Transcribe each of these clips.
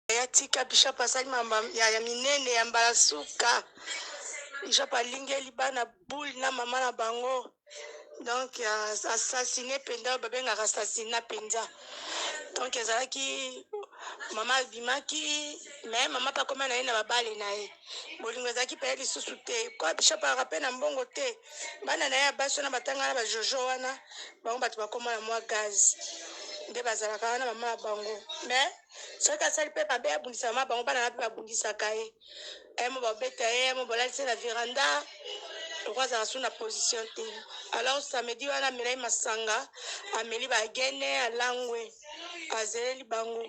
ya tika bishop asali mamba ya, ya minene ya mbala suka bishop alingeli bana boule na mama na bango donc assassine mpenza oyo babengaka assassina mpenza donc ezalaki mama abimaki me mama mpe akoma na ye na babale na ye bolingo ezalaki mpe ye lisusu te kwa bishop alaka mpe na mbongo te bana na ye ya basi wana batanga na bajojo wana bango bato bakoma na mwa gaz nde bazalaka wana mama ya bango mais soki asali mpe mabe abundisa mama bango bana na mpe babundisaka ye eh, mo babeta ye eh, mo balalisi ye na veranda loko azala so na position te alors samedi wana amelai masanga ameli bagene alangwe azeleli bango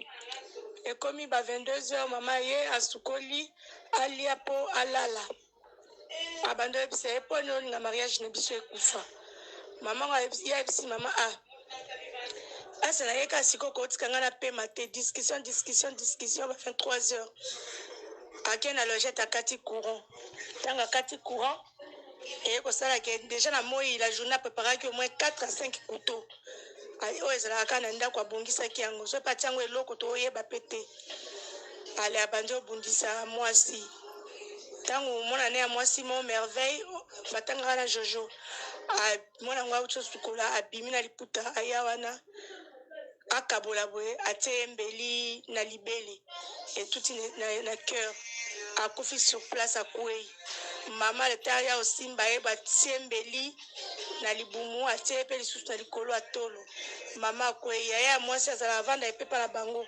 ekomi ba 22 heures mama ye asukoli alia mpo alala abandi oyebisa ye mpo nini na mariage na biso ekufa mama ngo ye ayebisi mama a ah, pasi na ye kasi koko otika ngai na pema te discussion discussion discussion ba 23 heures ake na logette akati courant ntango akati courant eye kosala ke déjà na moi la journée apreparaki au moins 4 à 5 couteau Ayi oyo ezalaka kaka na ndako abongisaki yango soki pe atie yango eloko toyeba pe te. Ale abandi obundisa mwasi. Ntango mwana ne ya mwasi mo merveille fatangaka na jojo mwana yango auti osukola abimi na liputa aya wana akabola boye atie ye mbeli na libele etuti na, na, na cœur akufi sur place akwei mama leta ya osimba ye batie mbeli na libumu atie ye pe lisusu na likolo ya tolo mama akweyi yaya ya mwasi azala avanda epepa na bango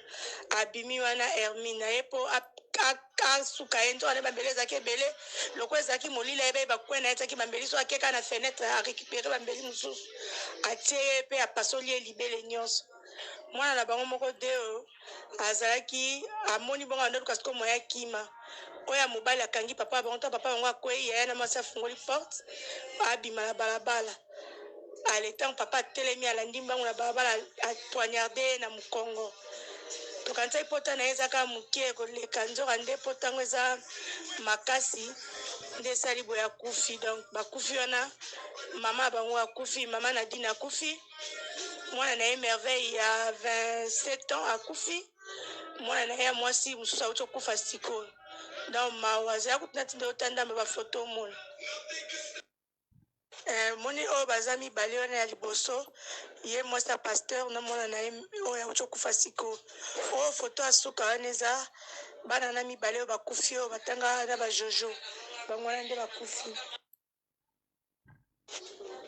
abimi wana hermine na ye po asuka ye nzoka na ye bambeli ezalaki ebele lokola ezalaki molili ayebaki bakwe na ye ezalaki bambeli so ake kaka na fenetre arecupere bambeli mosusu atie ye pe apasoli ye libele nyonso mwana na bango moko deo azalaki amoni bongo abanda luka sikoyo moyen akima oyo ya mobali akangi papa bango ntango papa bango akwei yaya na mwasi afungoli porte abima na balabala ale ntango papa atelemi alandi mbango na balabala apoignarde ye na mokongo tokanisaki pota na ye eza kaka moke koleka nzoka nde pota yango eza makasi nde esali boye akufi donc bakufi wana mama bango akufi mama nadine akufi mwana na ye Merveille ya 27 ans akufi, mwana na ye ya mwasi mosusu auti okufa sikoyo. Donc mawa, zala kutu natinda yo ta ndambe bafoto omona. Eh, moni oyo baza mibale wana ya liboso ye mwasi ya pasteur na mwana na ye oyo auti okufa siko oyo foto ya suka wana eza bana na mibale oyo bakufi oyo batanga na bajojo bango wana nde bakufi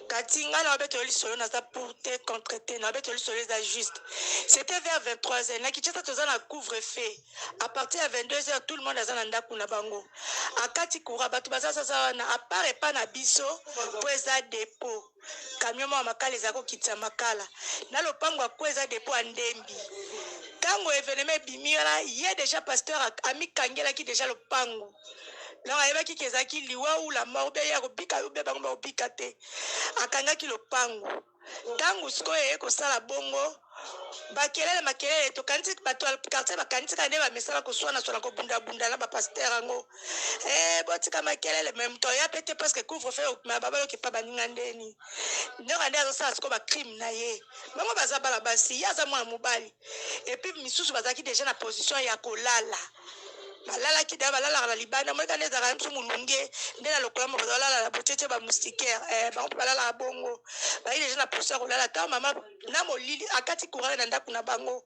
kati ngai na yo abetelo lisolo naza pour te contre te na abetelo lisolo eza juste c'était vers 23 heures na kinshasa toza na couvre feu à partir ya 22 heures tout le monde aza na ndako na bango akati courant bato baza sasa wana apart epa na biso mpo eza depot camion moko ya makala ezali kokitisa makala na lopango ya kue eza depo ya ndembi ntango evenema ebimi wana ye deja pasteur amikangelaki deja lopango donc ayebaki ke ezalaki liwa ou la mort beye akobika yo be bango bakobika te akangaki lopango ntango sikoyo eye kosala bongo Makelele makelele tokanisi bato ya quartier bakanisi kaka nde ba misala koswana swana kobunda bunda na ba pasteur yango eh botika makelele mais moto aya pe te presque couvre feu okima ba baloki pa baninga ndeni ndoka nde azosala siko ba crime na ye bango baza bana basi ye aza mwana mobali et puis misusu bazalaki déjà na position ya kolala balalaki da balalaka na libanda moyeka nde ezalaka msu molunge nde na lokola mo bazalala na botete ba moustiquaire eh bango mpe balalaka bongo bayi déjà na position ya kolala ntango mama na molili akati kurale na ndako na bango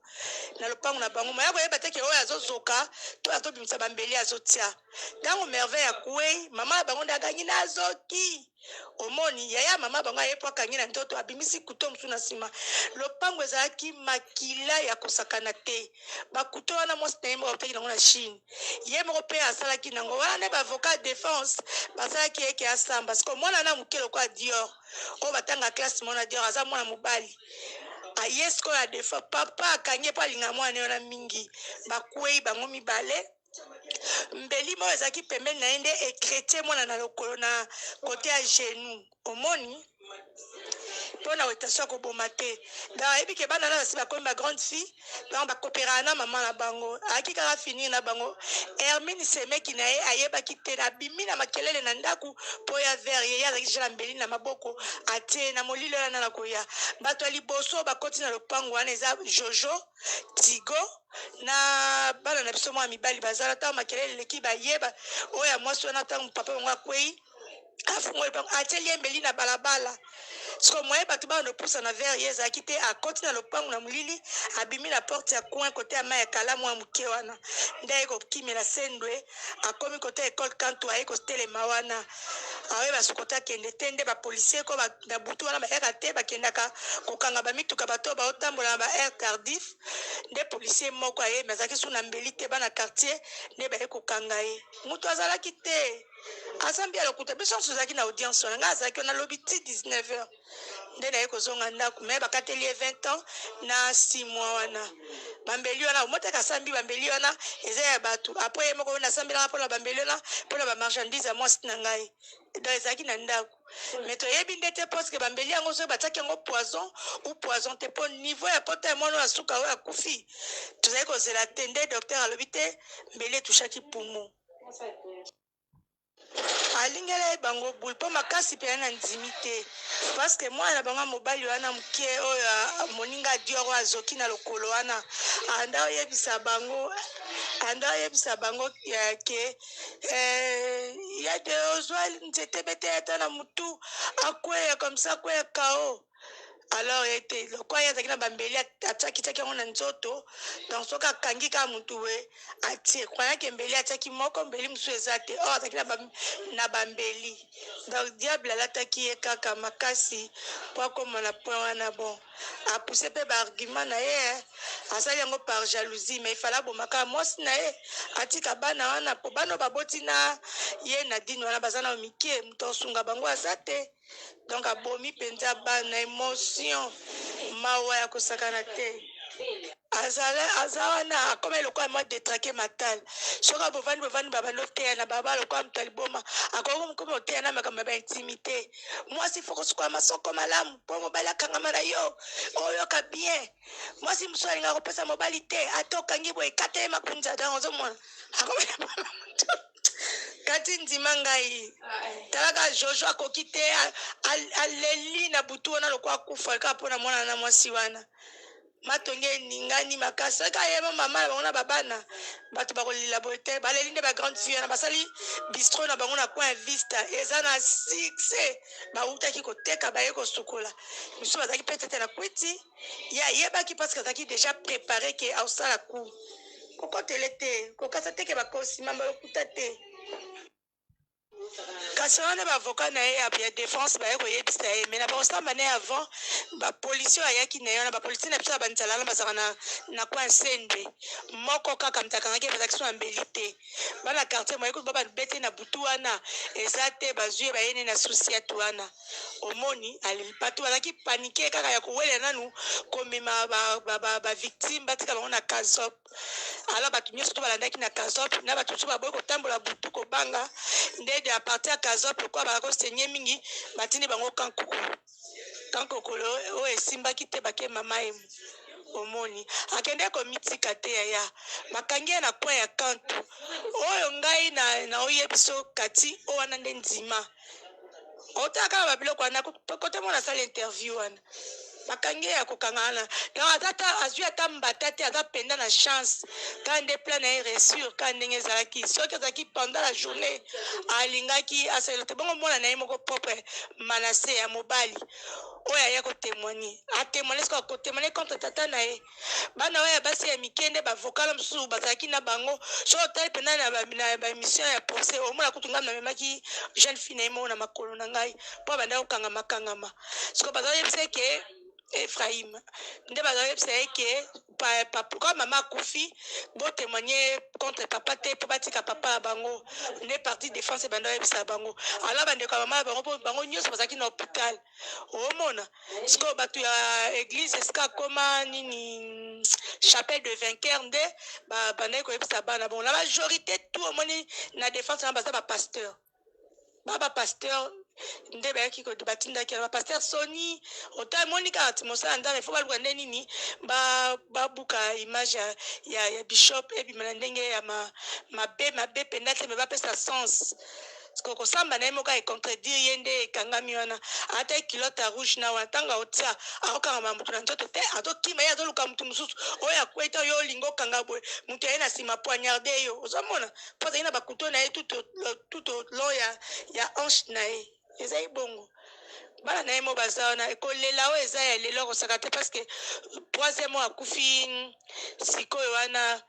na lopango na bango moya koyeba te ke oyo azozoka to azobimisa bambeli azotia ntango merveille akwei mama ya bango nde agangi nazoki omoni yaya mama bango aye po akangi na nzoto abimisi kuto mosusu na nsima lopango ezalaki makila ya kosakana te bakuto wana mwasi na ye moko autaki nango na chine ye moko mpe asalaki nango wana nde baavocat defense basalaki eke asamba siko mwana na moke lokola dior oyo batanga classe mona dior aza mwana mobali aye sikoyo adefa papa akangi ye mpo alinga mwana ye wana mingi bakwei bango mibale mbeli moko ezalaki pembeni na ye nde ekretie mwana na lokolo na kote ya genou omoni mpo na wetation ya koboma te donc ayebi ke bana na basi bakomi ba grande fille donc ba cooperaka na maman na bango ayaki kaka finir na bango Hermine semeki na ye ayebaki te abimi na makelele na ndaku po ya verre ye ye azalaki déjà na mbeli na maboko atie na molili oyo ana nakoya bato ya liboso bakoti na lopangu wana eza Jojo Tigo na bana na biso mwa mibali bazala ntango makelele eleki baye ba oyo ya mwasi wana ntango papa bango akweyi afungoli bango atie liembeli na balabala siko moye bato bana lopusa na vere ye ezalaki te akoti na lopango na molili abimi na porte ya coin kote ya mai ya kalamu ya moke wana nde aye kokimela sendwe akomi kote ya ekole kantu aye kotelema wana aoye basukote akende te nde bapolisier ko na butu wana bayaka te bakendaka kokanga bamituka bato oyo baotambola na ba air tardif nde policier moko aye me azalaki su na mbeli te bana quartier nde baye kokanga ye moto azalaki te aza mbi ya lokuta biso nyonso tozalaki na audience wana ngai azalaki wana lobi ti 19 heure nde naye kozonga ndako me bakateli ye 20 ans na 6 mois wana bambeli wana omotaki asambi bambeli wana eza ya bato apres ye moko nasambelaka mpona bambeli wana mpona bamarchandise ya mwasi na ngai donc ezalaki na ndako me toyebi nde te parceke bambeli yango soki batiaki yango poison ou poison te mpo niveau ya pota ya mwana oyo asuka oyo akufi tozali kozela te nde docteur alobi te mbeli etushaki poumon alingelaki bango boule mpo makasi mpenza na ndimi te parceke mwana na bango ya mobali wana moke oyo moninga dior oyo azoki na lokolo wana anda oyebisa bango anda oyebisa bango eh, ke eh, ya de ozwa nzete bete ata na motu akweya komisa akweya kao alors ye te lokola ye azalaki na bambeli atiakitiaki yango na nzoto donc soki akangi kaka motu we atie croyake mbeli atiaki moko mbeli mosusu eza te or azalaki na bambeli donc diable alataki ye kaka makasi mpo akoma na point wana bon apuse mpe baargument na ye eh. asali yango par jalousie mais ifala abomaka mwasi na ye atika bana wana mpo bana baboti na ye na dini wana baza na mike moto asunga bango aza te donc abomi mpenza bana emotion mawa ya kosakana te azala aza wana akoma eloko ya mwa detrake matal soki abovandi bovandi babandi oteya na baba lokola moto ya liboma akoki mokoma oteya na makambo ya baintimité mwasi fo kosukola masoko malamu mpo mobali akangama na yo oyoka bien mwasi mosusu alingaka kopesa mobali te ata okangi boye ekata ye makunza dan ozomona akoma Kati ndima ngai talaka Jojo akoki te aleli na butu wana lokola akufa kaka mpo na mwana na mwasi wana matonge eningani makasi soki ayeba mama na bango na babana bato bakolela boye te baleli nde bagrande fille wana basali bistro na bango na coin vista eza na succès bawutaki koteka baye kosukola misusu bazalaki petete na kwiti ye ayebaki parce que azalaki deja prepare ke aosala coup kokotele te kokasa te ke bakosi mamba lokuta te kasi wana baavoka na ye ya defense baye koyebisa ye mai na bakosamba na ye avant bapolisie ayaki na ye wana bapolisie na biso ya banzala wana bazalaka na, na kwa nsende moko kaka moto akangaki ye bazalaki so na mbeli te bana quartier moye kutu bababete na butu wana eza te bazwi ye bayene na susiate wana Omoni batu bazalaki panique kaka ya kowelela nanu komema ba victimes batika bango na casoc alors batu nionso to balandaki na casoc na batu mosusu baboyi kotambola butu kobanga nde à partir ya casoc lokola bazalaki ko saigne mingi batindi bango camp kokolo camp kokolo oyo esimbaki te bake mama emu omoni akende komitika te yaya bakangi ye na coin ya kantu oyo ngai naoyebiso kati oyo wana nde ndima kota kaka babiloko wana kota mwana asala interview wana bakangi ye ya kokanga wana donc aza ta azwi ata mbata te aza mpenza na chance kaka nde plan na ye ressure kaka ndenge ezalaki soki azalaki pendant la journée alingaki asalela te bongo mwana na ye moko propre manase ya mobali oyo aya kotemoigne atemoigne soki akotemoigne contre tata na ye Bana wana ya basi ya mike nde bavokala mosusu bazalaki na bango soki otali mpena na baémission ya procès omona kutu ngai namemaki jeune fille na ye moko na makolo na ngai mpo abanda kokangama kangama siko baza oyebisa eke ephraim nde baza oyebisa ye ke pourquoi mama akufi botémoigne contre papa te mpo batika papa ya bango nde parti défense ebanda oyebisa bango alors bandeko ya mama ya bango mpo bango nyonso bazalaki na hôpital omona sikoyo bato ya eglise esika akoma nini chapelle de vainqueur nde babandaki koyebisa bana bongo na majorité tout omoni na défense wana baza bapasteur ba bapasteur nde bayaki batindaki yango bapaster soni ota emoni kaka ti mosala nzambe fo baluka nde nini babuka image ya, ya, ya bishop ebima na ndenge ya mabe mabe mpenza te me bapesa sens Sikoyo kosamba naye moko a contredire ye nde ekangami wana ata ye culotte ya rouge na wana tango aotia akokangama mutu na nzoto te azokima ye azoluka mutu mosusu oyo akwei to yo olingi okanga boye mutu aye na nsima poignarde yo ozomona mpo azali na bakuto na ye tuto long ya ya hanche na ye ezali bongo bana na ye mo baza wana kolela oyo eza ya lelo akosaka te parce que troisième oyo akufi sikoyo wana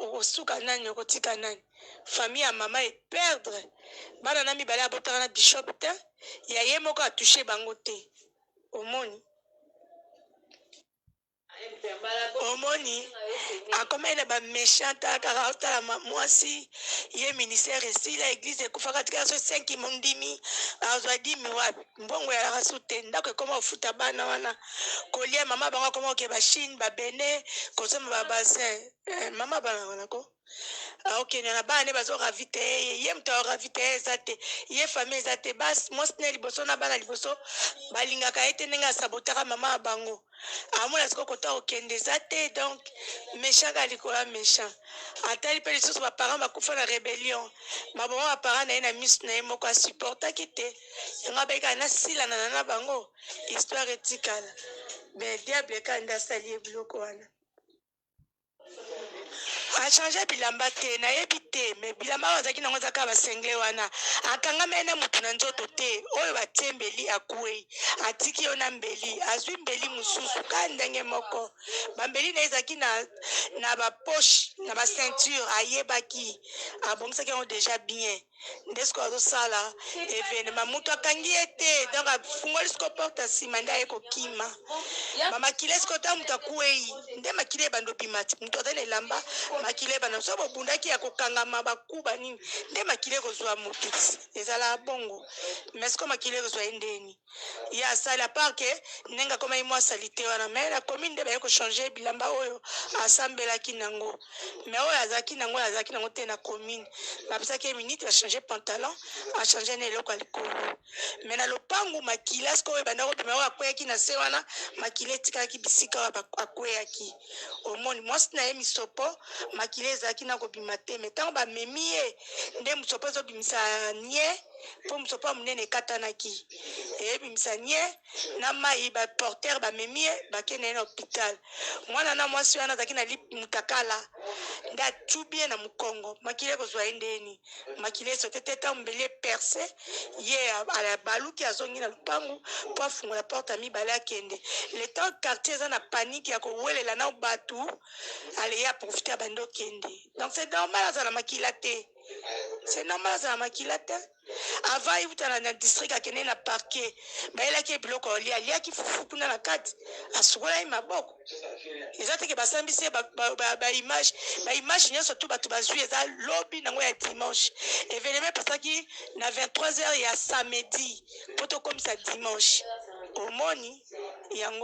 okosuka nani okotika nani famille ya maman e perdre bana na mibale abotaka na bishop te ya ye moko a touche bango te omoni omoni akomaki na baméchant akaka otala mwasi ye ministère esila église ekufaka tikala so senki mondimi azwa dimi wapi mbongo yalaka su te ndako ekoma kofuta bana wana kolia mama bango akoma koke bachine babene kosomba babasin eh, mama bana wana ko akokende na bana ne bazo ravitaye ye ye moto ya ravitaye eza te ye famille eza te basi mwasi ne liboso na bana liboso balingaka ye te ndenge asabotaka mama ya bango amona sikoyo kota kokende eza te donc méchant kaka likolo ya méchant atali mpe lisusu baparent bakufa na rébellion maboma baparent na ye na miso na ye moko asupportaki te yango abaki kaka nasilanana na bango histoire etikala mais diable kanda asali ye biloko wana achange bilamba te nayebi te me bilamba oyo azalaki nango ezaka basengle wana akangamai na motu na nzoto te oyo batie mbeli akwei atiki yo na mbeli azwi mbeli mosusu ka ndenge moko bambeli na ye ezalaki na, na bapoche na baceinture ayebaki abongisaki yango deja bien nde sikoyo azosala evenema moto akangi ye te donc afungoli siko porte ya nsima nde aye kokima bamakila siko ntango moto akwei nde makila ebanda obima ti moto aza na elamba makila ebanda so bobundaki ya kokangama bakuba nini nde makila ekozwa moto ezala bongo mais siko makila ekozwa ye ndeni ya sali à part que ndenge akomaki mwa salite wana mais na komi nde baye kochanger bilamba oyo asambelaki nango mais oyo azalaki nango oyo azalaki nango te na commune bapesaki ye minute bachange pantalon achange na eloko ya likolo mais na lopangu makila sikoyo ebanda kobima oyo akweyaki na se wana makila etikalaki bisika oyo akweyaki omoni mwasi na ye misopo makila ezalaki na kobima te mais ntango bamemi ye nde mosopo ezobimisa nie mpo mosopa monene ekatanaki ebimisa nie na mai baportere bamemi ye bakende ye na hopital mwana na mwasi wana azalaki na mutakala nde atubi ye na mokongo makila ekozwa ye ndeni makila esote te ntango mbeli eperse ye abaluki azongi na lopangu mpo afungola porte ya mibale akende le temps quartier eza na panike ya kowelela na bato aleye aprofite abandi okende donc c'est normal azala makila te c'est normal aza na makila te avant euta na, na district akende na parquet bayelaki ye biloko alia aliaki fufu kuna na kati asukolaki maboko eza teke basambisi ye baimage baimage nyonso tu bato bazwi eza lobi nango ya dimanche evenema epasaki na 23 heures ya samedi mpo tokomisa dimanche omoni yango